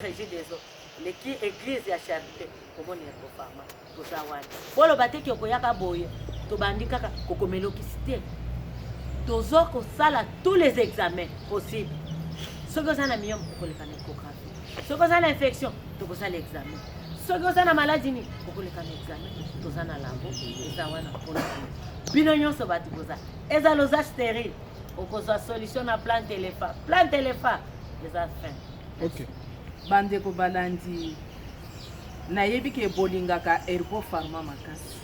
Regideso leki eglise ya charite komoni ya kofama toza wana boloba te ki okoyaka boye tobandi kaka kokomelokisi te tozo kosala tous les examens possible soki oza na miyome okoleka na échographie soki oza na infection tokosala examen soki oza na maladi nini okoleka na examen toza na labo eza wana mpona bino nyonso bato boza eza loza sterile okozwa solution na plan telefa plan telefa eza fin Okay. Bandeko balandi, nayebi ke bolingaka Herbo Pharma makasi.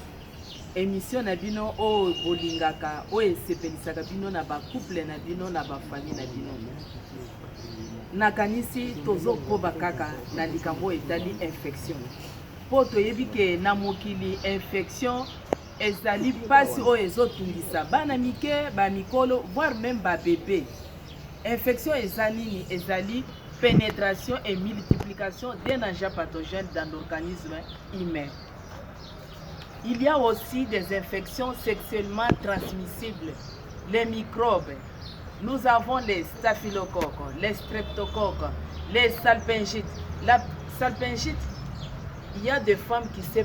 Emission na bino oyo bolingaka, oyo esepelisaka bino na ba couple na bino na ba famille na bino. Nakanisi tozokoba kaka na likambo etali infection. Po toyebi ke na mokili infection Ezali mpasi oyo ezotungisa bana mike, ba mikolo, voire meme ba bebe. Infection eza nini? Ezali penetration et multiplication d'un agent pathogène dans l'organisme humain. Il y a aussi des infections sexuellement transmissibles, les microbes. Nous avons les staphylocoques, les streptocoques, les salpingites. La salpingite, il y a des femmes qui se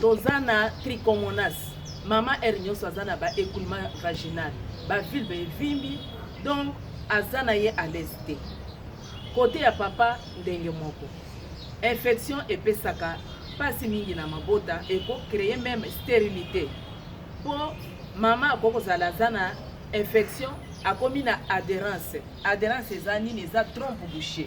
toza na trichomonas mama heure nyonso aza na ba écoulement vaginal ba vulve evimbi donc aza na ye à l'aise te kote ya papa ndenge moko infection epesaka mpasi mingi na mabota ekocreye meme sterilité mpo mama akoki kozala aza na infection akomi na adherence adherence eza nini eza trompe boucher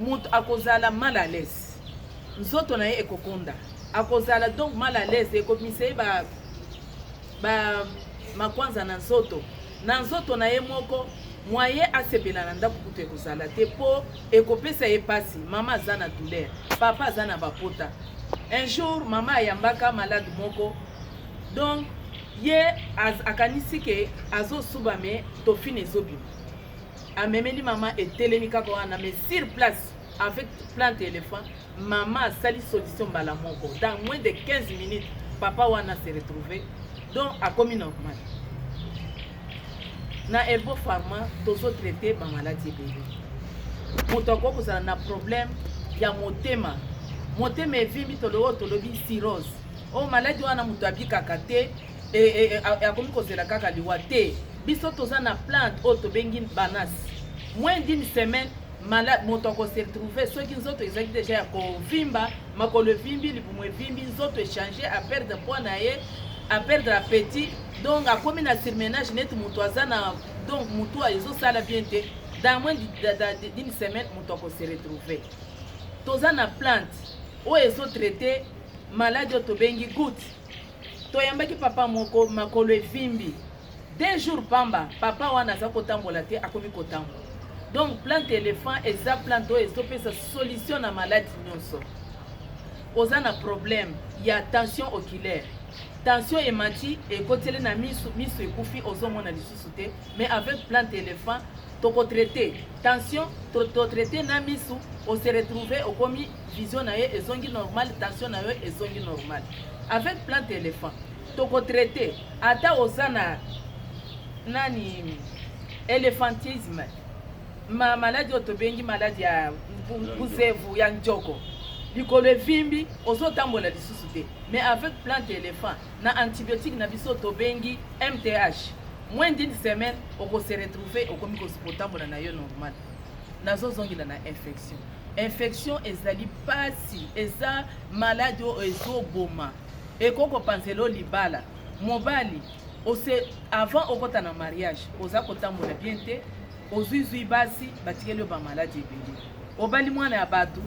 Mutu akozala mal à l'aise, nzoto na ye ekokonda, akozala donc mal à l'aise, ekobimisa ye ba ba makwanza na nzoto na nzoto na ye moko moyen asepela na ndako kutu ekozala te mpo ekopesa ye mpasi mama aza na douleur papa aza na bapota un jour mama ayambaka malade moko donc ye akanisi ke azosuba me tofine ezobima amemeli mama etelemi kaka wana mais sur place avec plante ya elephant mama asali solution mbala moko dans moins de 15 minutes papa wana se retrouve donc akomi normal na elbo pharma tozotraite bamaladi ebele moto akoki kozala na problème ya motema motema evimbi toloyo tolobi sirose oyo oh, maladi wana moto abikaka te e, e, e, akomi kozela kaka liwa te biso toza na plante oyo tobengi banas moins d'une semaine malade moto akose retrouve soki nzoto ezalaki deja ya kovimba makolo evimbi libumu evimbi nzoto echange aperdre poids na ye aperdre appetit donc akomi na surmenage neti moto aza na donc motu ezosala bien te dans moins d'une semaine moto akose retrouve toza na plante oyo ezotraite maladi oyo tobengi goutte toyambaki papa moko makolo evimbi deux jours pamba papa wana aza kotambola te akomi kotambola donc plante elephant eza plante oyo ezopesa solution na maladi nyonso oza na problème ya tension oculaire tension emati ekoteli na misu misu ekufi ozomona lisusu te mais avec plante elephant tokotraite tension totraite na misu ose retrouve okomi vision na yo ezongi normal tension na yo ezongi normal avec plante elephant tokotraite ata oza na nani elephantisme ma maladi oyo tobengi maladi ya buzevu ya njoko likolo evimbi ozotambola lisusu te mais avec plante elephant na antibiotique na biso tobengi mth moins d'une semaine okose retrouve okomi kotambola na yo normal nazozongela na infection Infection ezali pasi, eza maladi oyo ezoboma, ekoki kopanzela yo libala. Mobali ose avant okota na mariage oza kotambola bien te, ozuizui basi batikeli yo bamaladi ebele, obali mwana ya bato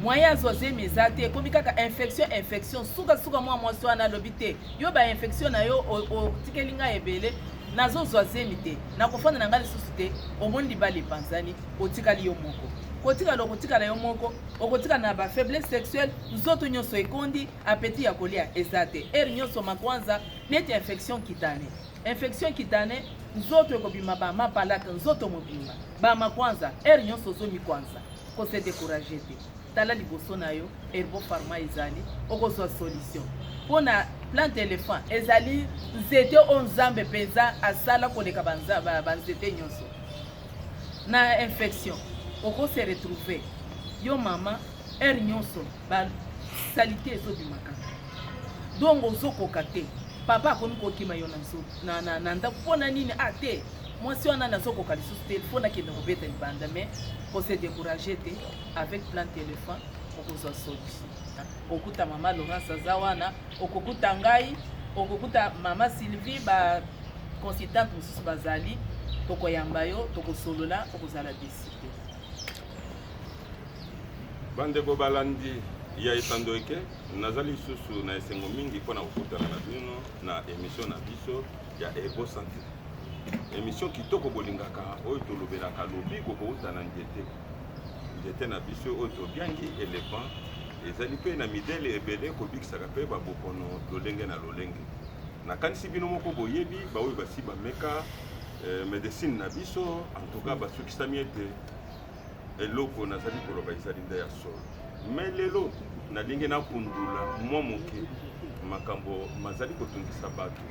mwaye azwa zemi eza te, ekomi kaka infection infection. Sukasuka mwa mwasi wana alobi te, yo ba infection na yo otikeli ngai ebele, nazozwa zemi te, nakofanda na ngai lisusu te. Omoni libala epanzani. otikali yo moko kotikala okotikala yo moko okotikala na ba faiblesse sexuelle nzoto nyonso ekondi apeti ya kolia eza te ere nyonso makwanza neti infection kitane infection kitane nzoto ekobima ba mapalata nzoto mobimba ba makwanza ere nyonso ozomi kwanza ko se décourager te tala liboso na yo herbo pharma ezali okozwa solution mpo na plante elephant ezali nzete oyo nzambe mpenza asala koleka banzete nyonso na infection oko se retrouver yo mama heure nyonso ba salite ezobimaka donc ozokoka te papa akomi kokima yo na ndako mpo na nini a ah, te mwasi wana nazokoka lisusu te mpo nakende kobeta libanda mais kose décourage te avec plan téléphone okozwa solution okuta mama laurence aza wana okokuta ngai okokuta mama sylvie ba consultante mosusu bazali tokoyamba yo tokosolola okozala deside bandeko balandi ya etando eke nazali lisusu na esengo mingi mpo na kokutana na bino na emisio na biso ya ego sante emisio kitoko bolingaka oyo tolobelaka lobiko kouta na nzete Nzete na biso oyo tobiangi elephant ezali mpe na midele ebele kobikisaka mpe babokono lolenge na lolenge. Nakanisi bino moko boyebi baoyo basi bameka eh, medecine na biso antuka basukisami ete eloko nazali koloba ezali nde ya solo. Me lelo nalingi nakundula mwa moke makambo mazali kotungisa bato,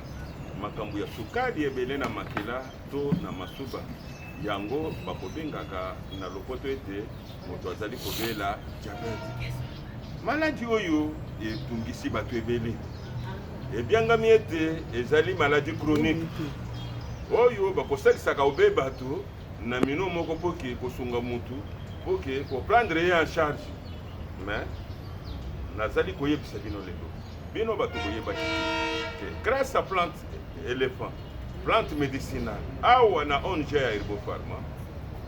makambo ya sukali ebele na makila to na masuba yango bakobengaka na lopoto ete moto azali kobela diabete maladi oyo etungisi bato ebele ebyangami ete ezali maladi chronique oyo bakosalisaka obe bato na mino moko mpo ke kosunga motu mpo ke koprendre ye en charge mais nazali koyebisa bino lelo bino bato boyebaki te grâce à plante elephant plante medicinale awa na ong ya herbo pharma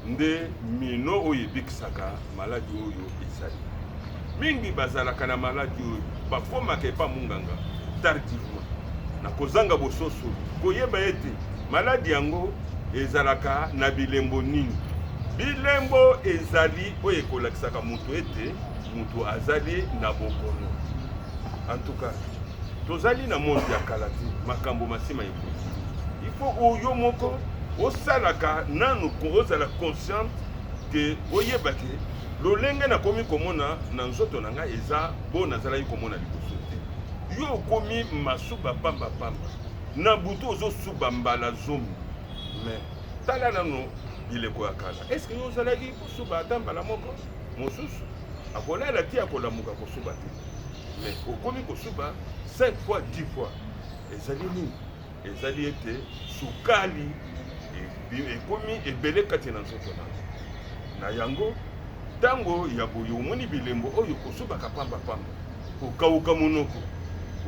nde mino oyo ebikisaka maladi oyo ezali mingi bazalaka na maladi oyo bakomaka epa monganga tardivement na kozanga bososo koyeba ete maladi yango ezalaka na bilembo nini bilembo ezali oyo ekolakisaka moto ete moto azali na bokono antuka tozali na monde ya kala te makambo masima ekoki ifo oyo moko osalaka nanu ozala consciente ke oyeba ke lolenge nakomi komona na nzoto na ngai eza bo nazalaki komona liboso te yo okomi masuba pamba pamba na butu ozosuba mbala zomi me tala nano bileko ya kala eske yo ozalaki kosuba ata mbala moko mosusu akolala ti akolamuka kosuba te mais okomi kosuba 5 fois 10 fois ezali nini ezali ete sukali ekomi ebele kati na nzoto na na yango ntango ya boye omoni bilembo oyo kosubaka pambapamba kokauka monoko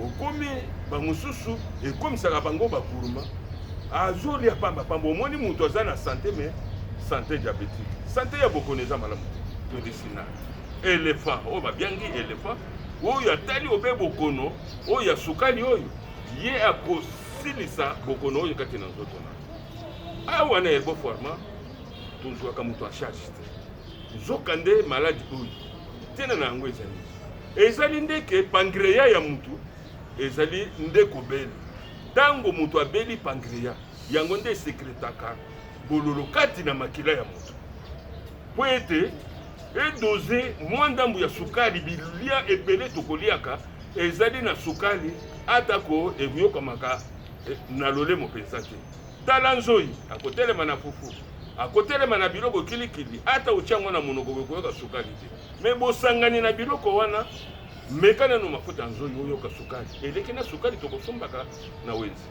okomi bamosusu ekomisaka bango bakuruma azolia pamba pamba omoni moto aza na sante me sante diabetike sante ya bokono eza malamu te medicina elephant oyo babiangi elephant oyo atali obe bokono oyo ya sukali oyo ye akosilisa bokono oyo kati na nzoto na awa na elbo forma tozwaka moto a charge te Nzokande, maladi oyo ntina na yango ezali ezali nde ke pangreya ya motu ezali nde kobele. Ntango moto abeli pangreya, yango nde esekretaka bololo kati na makila ya moto mpo ete edoze mwa ndambo ya sukali. Bilia ebele tokoliaka ezali na sukali, atako ekoyokamaka eh, na lolemo mpenza te. Tala nzoi akotelema na fufu, akotelema na biloko kilikili, ata otia yango na monoko okoyoka sukali te. Me bosangani na biloko wana, meka nano mafuta nzoi oyoka sukali eleki na sukali tokosombaka na wenzi.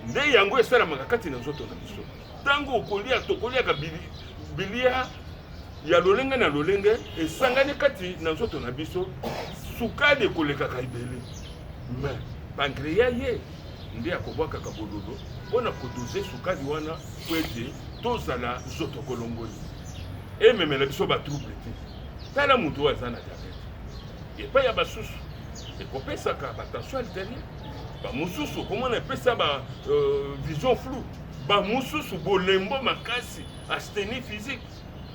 Nde yango esalamaka kati na nzoto na biso. Ntango okolia, tokoliaka bilia ya lolenge na lolenge esangani kati na nzoto na biso, sukali ekolekaka ebele me pankreya ye nde akobwakaka bololo mpo na kodoze sukali wana mpo ete tozala nzoto kolongoli ememela biso batrouble te tala moto oyo aza na diabete epai ya basusu ekopesaka batension arteriel bamosusu okomona epesa ba euh, vision flou bamosusu bolembo makasi astenie physique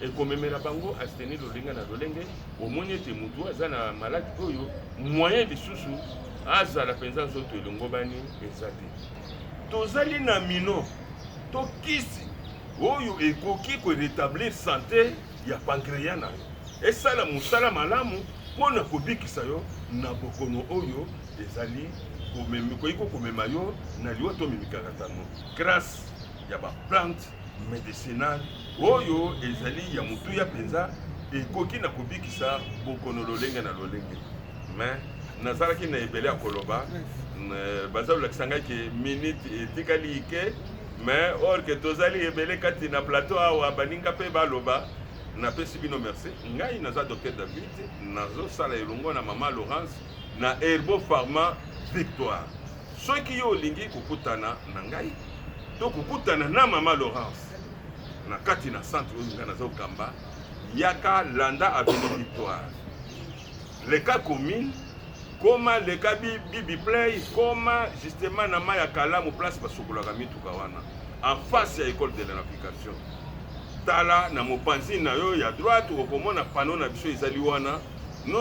ekomemela bango asteni lolenge na lolenge omoni ete motu aza na maladi oyo moyen lisusu azala mpenza nzoto elongobani eza te tozali na mino to kisi oyo ekoki koretablir sante ya pankreya na yo esala mosala malamu mpo na kobikisa yo na bokono oyo ezali koyiko komema yo na liwa to mimikalatano grâce ya baplante medicinal oyo ezali ya motuya mpenza ekoki na kobikisa bokono lolenge na lolenge me nazalaki na ebele ya koloba eh, baza kolakisa ngai ke minute etikali ike me orke tozali ebele kati na plateau awa baninga mpe baloba napesi bino merci ngai naza docteur david nazosala elongo na mama laurence na herbo pharma victoire Soki yo olingi kokutana na ngai to kokutana na mama Laurence na kati na centre oyo ngai naza kokamba, yaka landa avenue Victoire, leka commune, koma leka bibi play, koma justement na mai ya kalamu place basukolaka mituka wana en face ya école de la navigation. Tala na mopanzi na yo ya droite okomona pano na biso ezali wana.